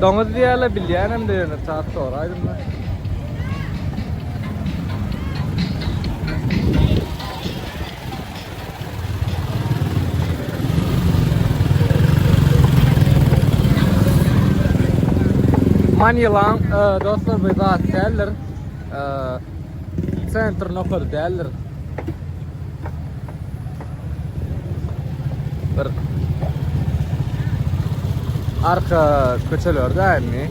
Doňuz diýýärler, bilýänem de ýöne çat soraýdym da. Manilan, e, dostlar, bir zat däldir. Sentr nokady däldir. Bir arka köçelerde indi.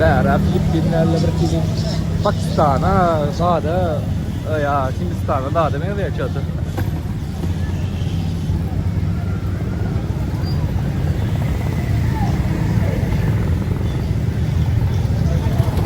Bära Filippinlerle bir kili Pakistana dada ya Hindistana dada benzeýär çaty.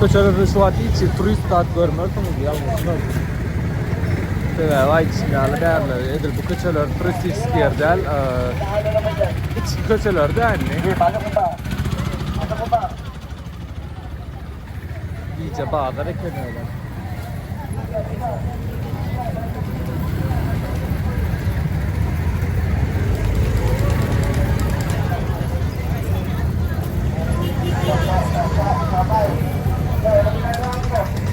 Köçelerde şu wagt hiç turist zat görmersiňiz, ýalňyşyňyz. Sebäbi aýdyşym ýaly bärde edil bu köçeler turistiski ýer däl. Içki köçeler däl indi. Gije bazar ekeni öyle.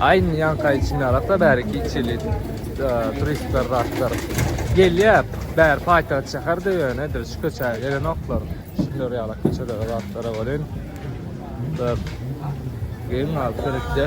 Aýn ýanka içinde alakda bäri kiçili turistler zatlar. Gelýär, bäri paýtagt şäherde ýöne edil şu köçä gelenoklar. Şunlar ýala köçede zatlara bolin. Dur. Geň al turistde.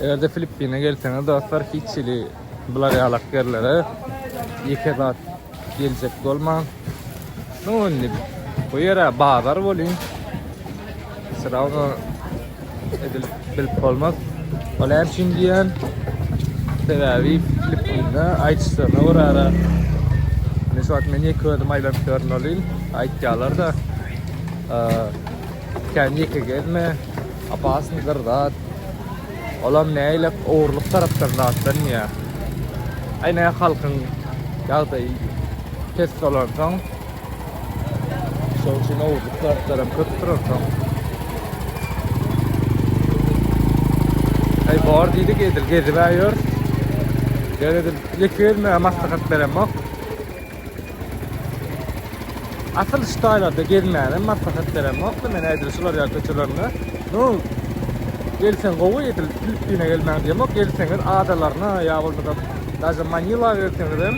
Eger de Filippine gelseniz dostlar hiç hili bular ýalak ýerlere ýeke zat geljek bolmaň. Şoň bu ýere bazar bolyň. Sıra Edil bilip bolmaz. Ol hem şun diýen. Sebäbi bilip bilme aýtsaňa bir ara. Ne şu men ýeke özüm aýlanyp ýörün ol il. Aýtýarlar da. Kän ýeke gezme. Apasyn gyrzat. Olam näýlek ogurlyk tarapdan zatdan ýa. Aýna halkyň ýagdaýy pes bolansoň Şol üçin owurlyk zatlaram köpdür orta. Hey bar diýdik edil gezip aýýor. Gel edil lekirme maslahat beremok. Asyl şu taýlarda gezmäne maslahat beremok. Men edil şular ýa köçelerde. Nu gelsen gowy edil Filippine gelmäň diýemok. Gelseňiz adalaryna ýa bolmasa Daja Manila gelseňizem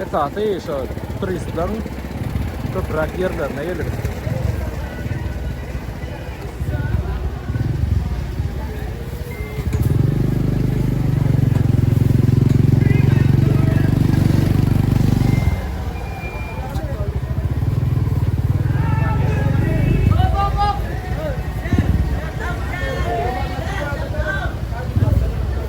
esasy şo turistleriň köpräk ýerlerine gelip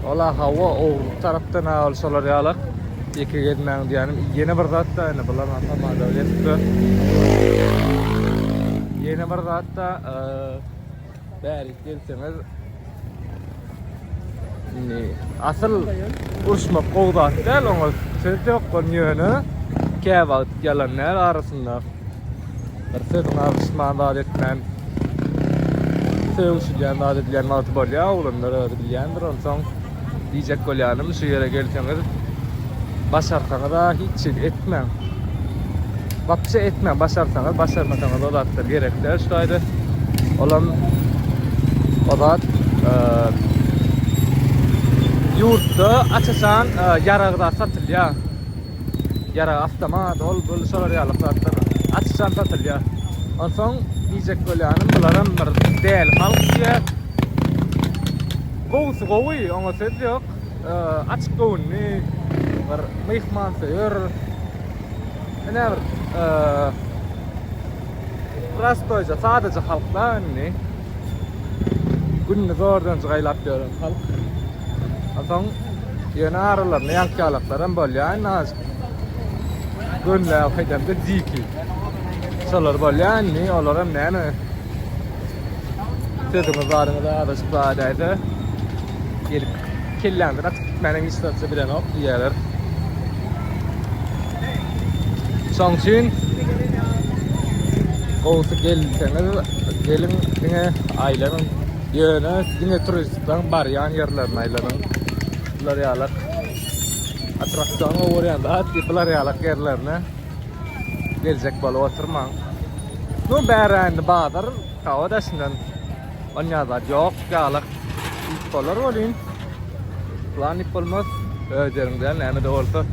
Wala hawa ogurlyk tarapdan ha ol şolar ýalak ýeke gezmäň diýänim ýene bir zatda indi bular ha tamada gezipler ýene bir zatda bärik gelseňiz indi asyl uruşmak gowy zat däl oňa söz ýok ýöne käwagt ýalan däl arasynda Bir sözüňi agyşman zat etmän sögüşilýän zat edilýän wagty bolýar oglanlar özi bilýändir onsoň diýjek bolýanym şu ýere gelseňiz başarsaňyza hiç zat etmäň wapşe etmäň başarsaňyz başarmasaňyz o zatlar gerek däl şu taýda olam o zat e, ýurtda açaçan e, ýaragda satylýar ýarag awtomat, ol bul şolar ýaly zatlar açykjan satylýar. Onsoň diýjek bolýanym bularam bir däli halk diýe. Gowusy gowy, oňa söz ýok. Açyk göwünli, bir myhman söýer. Ene bir prostoýja, sadaja halkda indi. Günde zordan jygaýlap ýören halk. Atam ýöne aralarynda ýaňkýalaklar hem bolýar. Nazik. Gönle haýdamda diki. Şolar bolýar indi. Olar hem näme? Sözüňiz baryňyza azaşyp bar däde. Gelip Kelläňden atyp gitmäniň hiç zady bilenok diýýärler. Şoň üçin gowusy gelseňiz, geliň diňe aýlanyň. Ýöne diňe turistlaň barýan ýerlerini aýlanyň. Bular ýalak attraksion görýän zat, bular ýalak ýerlerine geljek bolup oturmaň. No bärä indi bazar Hawa daşyndan onýa zat ýok ýalyk. Üç bolar welin plan ip bolmaz. Öz ýeriňden näme de bolsa.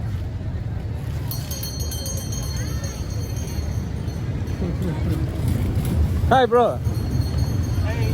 Hi bro. Hey.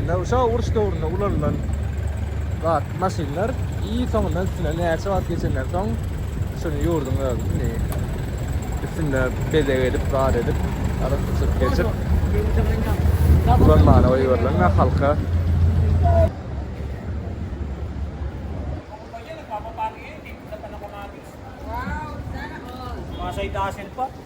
Ynha şo uruş döwründe ulanylan zat maşynlar i soňundan üstüne näçe wagt geçenden soň şuny ýurduň özi indi üstünde bezeg edip zat edip arasy çyk geçip ulanmana goýberilen we halka Maşa ýa şeýle bar.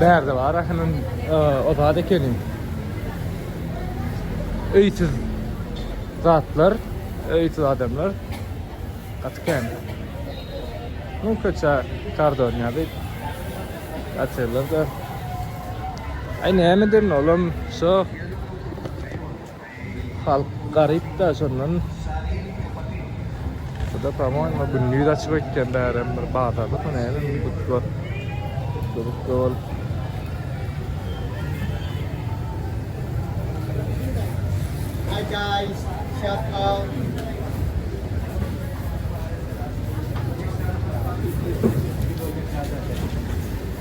Bärde bar ahynyň o zat ekeni. Öýsüz zatlar, öýsüz adamlar. Gaty kän. Ну, köçä kardon ýaly. Atýarlar da. Ay näme derin olam, şo. Halk garyp da şondan. Şuda pamoýma gündiz açyk öýtýän bärem bir bazarlykmy näme bir but bar. Görüp gör. Hi guys, shout out.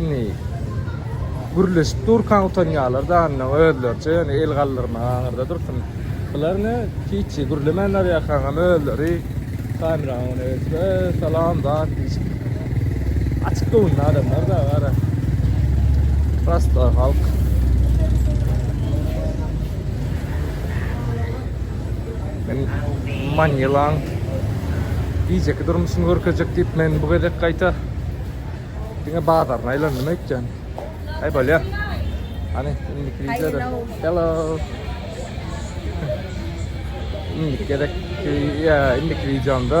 Indi gürleşip durkan utanýarlar da anna özleriçe ýöne el galdyrmaga aňyrda dursun. Bular ne hiç gürlemänler ýakaňam özleri kamerany öne geçirip salam zat diýip. Açyk göwünli adamlar da gara. Prosta halk. Men Manilaň gijeki durmuşyny görkezjek diýip, men bu gezek gaýta diňe bazaryny aýlandym öýtýän. Aý bolýar. Hany, indiki wideoda. Hello. Indiki gezek, ýa indiki wideomda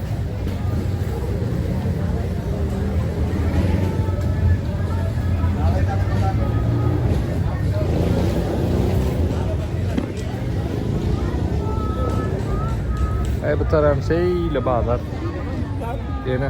Ay bu tarafım şeyle bazar. Yine.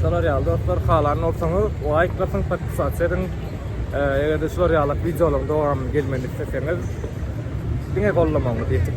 Şolar ýaly dostlar, halan bolsaňyz, laýk basyň, podpisasiýa ediň. Eger-de şular ýaly wideolaryň dowamyny gelmegini isleseňiz, diňe gollamagyňyzy ýetiň.